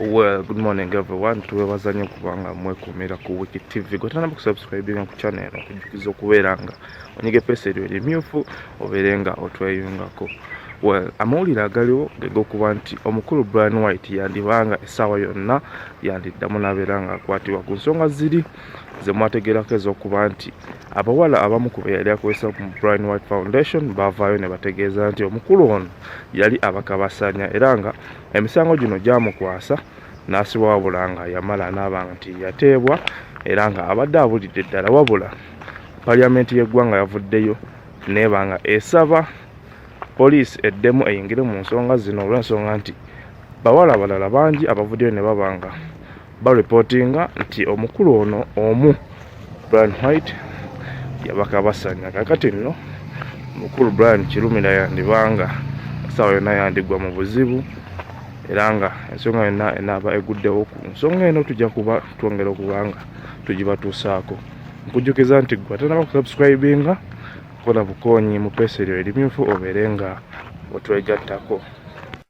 well good morning everyone tuwebaza nnyo kubanga mwekumira ku wiki tv gwetanaba kusubscribinga ku channel eno okujukiza okubeera nga onyige epeesa eryo erimyufu obeere nga otweyungako well amawulire agaliwo gegokuba nti omukulu brian white yandibanga essaawa yonna yandiddamu nabeera nga akwatibwa ku nsonga ziri zemwategerako ezokuba nti abawala abamu ku be yali akozesa ku brian white foundation bavaayo ne bategeeza nti omukulu ono yali abakabasanya era nga emisango gino gyamukwasa n'asibwa wabula nga yamala n'aba nti yateebwa era nga abadde abulidde ddala wabula Parliament y'eggwanga yavuddeyo nebanga esaba poliisi eddemu eyingire mu nsonga zino olw'ensonga nti bawala abalala bangi abavuddeyo ne babanga balipotinga nti omukulu ono omu Brian White yabakabasanya kakati nno mukulu Brian Kirumira yandibanga essaawa yonna yandigwa mu buzibu era nga ensonga yonna enaaba eguddewo ku nsonga eno tujja kuba twongera okubanga tugibatuusaako nkujjukiza nti gwe atanaba kusubscribinga kola bukoonyi mu peesa eryo erimyufu obeere nga otwegattako